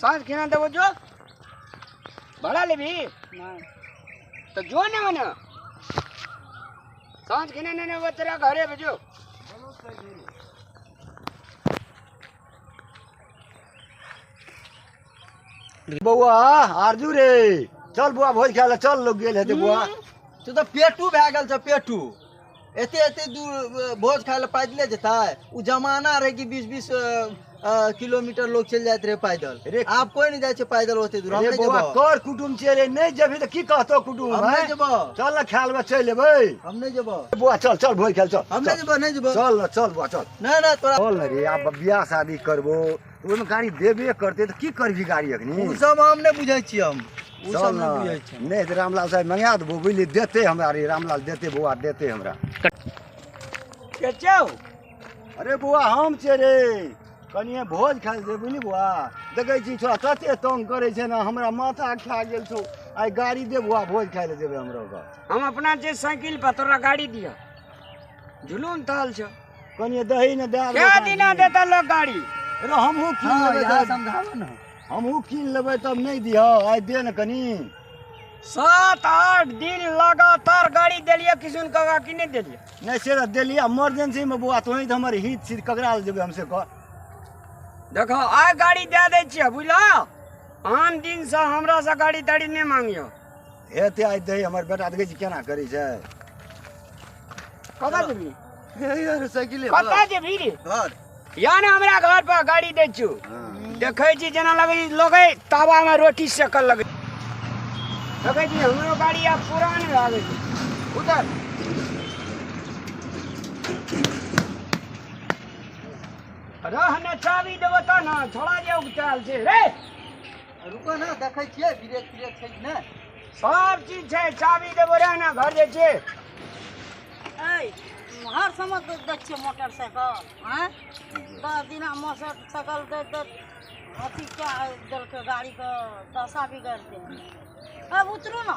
साँझ खेना देबो जो भाड़ा लेबी तो जो ने मने साँझ खेना ने ने तेरा घरे भेजो बौआ आरजू रे चल बौआ भोज खाय ले चल लोग गेल हेते बौआ तू तो पेटू भए गेल छ पेटू एते एते दूर अ, भोज खाय लए पैदले जेतै ओ जमाना रहै कि बीस बीस किलोमीटर लोग चलि जाइत रहै पैदल रे- आब कोई नहि जाइ छै पैदल ओते दूर हम अरे नहि बौआ जेबो कर कुटुम छियै रे नहि जेबही तऽ की कहतो कुटुम हम नहि हैं? जेबो चल ने खाय लेबै चलि एबै हम नहि जेबो बौआ चल चल भोज खाय लए, चल हम नहि चल। जेबो नहि जेबो चल ने चल बौआ चल नहि नहि तोरा चल ने रे आब बियाह शादी करबो ओहिमे गाड़ी देबे करतै तऽ की करबी गाड़ी अखनी ओ सब हम नहि बुझै छी हम ओ सब चल नहि ने। बुझै छी नहि तऽ रामलाल साहब मंगा देबो बुझलियै देतै हमरा रे रामलाल देतै बौआ देतै हमरा चचाओ अरे बौआ हम छियै रे कनिए भोज खाइ छै बुझली बौआ देखै छी छोरा कते तंग करै छै ने हमरा माथा खा गेल छौ आइ गाड़ी दे बौआ भोज खाइ लए जेबै हमरा ओकर हम अपना जे साइकिल पर तोरा गाड़ी दिया जुलूम तहल छो कनिए दही ने दए क्या देबै दिना देता लोग गाड़ी रे हमहूँ कीन हाँ लेबै यहाँ तब समझाबो ने हमहूँ कीन लेबै तब नहि दिह आइ दे ने कनी सात आठ दिन लगातार गाड़ी देलिए किशुन काका की नहीं देलिए नहि से तऽ देलियै इमरजेंसीमे बौआ तोही तऽ हमर हित छी ककरा लए जेबै हमसे कह देखो आइ गाड़ी दे दै छियै बुझलो आन दिन से हमरा से गाड़ी ताड़ी नहीं मांगियो हेतै आइ दही हमर बेटा देखै छी केना करै छै कतऽ जेबी कतऽ जेबी रे घर या ने हमरा घर पर गाड़ी दै छियौ देखै छी जेना लगै लगै तावामे रोटी सेकल लगै देखै छी हमरो गाड़ी आब पुरान लागै छै उतर रहने चाबी देबो तब ने छोड़ा जे उगतायल छै रे रुको ने देखै छियै ब्रेक ब्रेक छै कि नहि सब चीज छै चाबी देबो रहे ने घर जाइ छियै ऐ हर समय दे दै छियै मोटरसाइकिल आँय दस दिना मोटरसाइकिल दे दे अथी कए देलकै गाड़ीके दशा बिगड़ि देलकै अब उतरू ने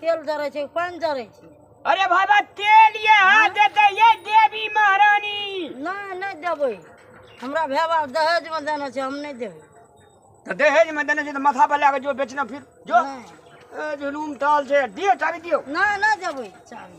तेल जरै छै पानि जरै छै अरे बाबा तेल ये हाथ देते ये देवी महारानी नहि नहि देबै हमरा भाय बाप दहेजमे देने छै हम नहि देबै तो दहेज में देने से तो माथा पर लगा जो बेचना फिर जो नहीं। ए, जुलूम टाल से दिए चाबी दियो नहि नहि देबै चाबी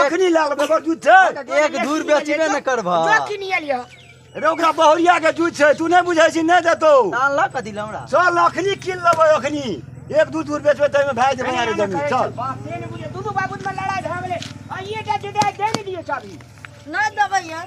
अखनी लए लेबै ओकर दूध छै एक धूर बेचबे ने करबह जो कीन लिया रे ओकरा बहुरिया के दूध छै तू नहि बुझै छी नहि देतौ तान लऽ कऽ दिल हमरा चल अखनी कीन लेबै अखनी एक दू दूर बेचबै ताहिमे भए जेबै अरे जमीन चल से ने बुझे दुनू बाबू में लड़ाई भए गेलै आइए टा जुदा दे ने दियो चाबी नहि देबै यार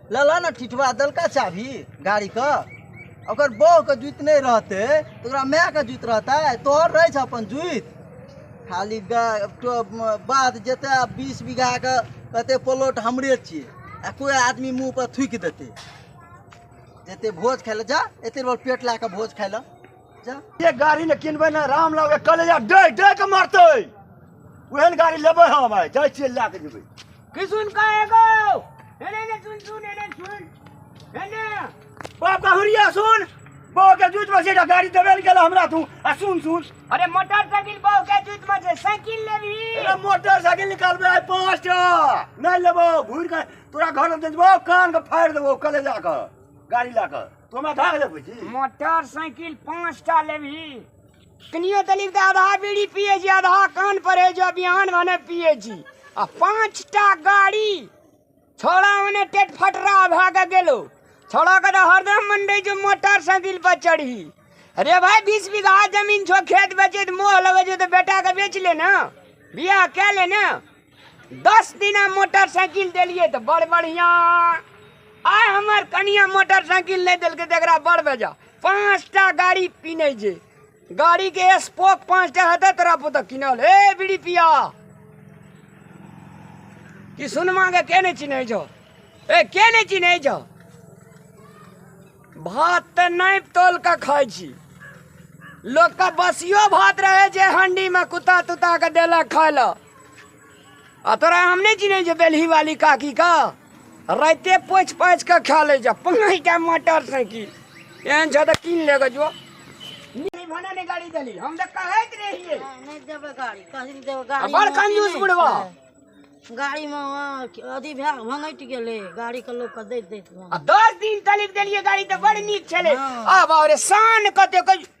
लला ने ठिठवा देलका चाभी गाड़ी के ओकर बह के जुत नहीं रहते तो ओकरा माय के जुत रहता है तोहर रहे अपन जुत खाली गा- तो म- बात जते बीस बीघा के कते प्लॉट हमरे छिए आ कोई आदमी मुंह पर थूक देते जते भोज खाए ले जा एते बड़ पेट ला के भोज खाए ले जा ये गाड़ी ने किनबे ना राम लागे कलेजा डे डे के मारते ओहन गाड़ी लेबे हम आइ जाइ छियै लए के जेबै किसुन का एगो एने ने सुन सुन एने सुन एने बाप का हुरिया सुन बाप के जूत में से एकटा गाड़ी देवेल गेल हमरा तू आ सुन सुन अरे मोटरसाइकिल बहु के जूत में से साइकिल लेबी अरे मोटरसाइकिल निकालबे आइ पाँच टा नहीं लेबो घूर के तोरा घर में देबो कान के फाड़ देबो कले जाकर गाड़ी लाकर तू हमरा धाग ले बुझी मोटरसाइकिल पाँच टा लेबी कनियो तली तऽ आधा बीड़ी पिए छी आधा कान पर है जो बिहान भने पिए छी आ पाँच टा गाड़ी छोड़ा भने टेट फटरा भए के गेलो छोड़ा के तऽ हरदम मन रहै जो मोटरसाइकिल पर चढ़ी अरे भाई बीस बीघा जमीन छो खेत बेचे तऽ मोह लगे छो तऽ बेटा के बेच ले ना बियाह कए ले ना दस दिना मोटरसाइकिल देलिए तो बड़ बढ़िया आय हमर कनिया मोटरसाइकिल नहीं दिल तकरा बड़ बेजा पाँचटा गाड़ी पीने जे गाड़ी के स्पोक पाँचटा हते तोरा पुतक किनल हे बीड़ी पिया कि सुनमा के के नहीं चिन्ह छो ए के नहीं चिन्ह छो भात तो नहीं तोल के खाई छी लोग का बसियो भात रहे जे हंडी में कुत्ता तुत्ता के देलक खाय ला आ तोरा हम नहि चिन्है छै बेलही वाली काकी का राइते पोछि पाछि कऽ खा लै जा पाँच टा मोटर साइकिल एहन छ तऽ कीन ले जो भने ने गाड़ी देली हम तऽ कहैत रहियै नहि देबै गाड़ी कहीं देबै गाड़ी बड़ कंजूस बुढ़वा गाड़ी में अथी भए भंगटि गेलै गाड़ी के लोक के दैत दैत आ दस दिन तलिक देलियै गाड़ी तऽ बड़ नीक छलै आब और शान कते कहियो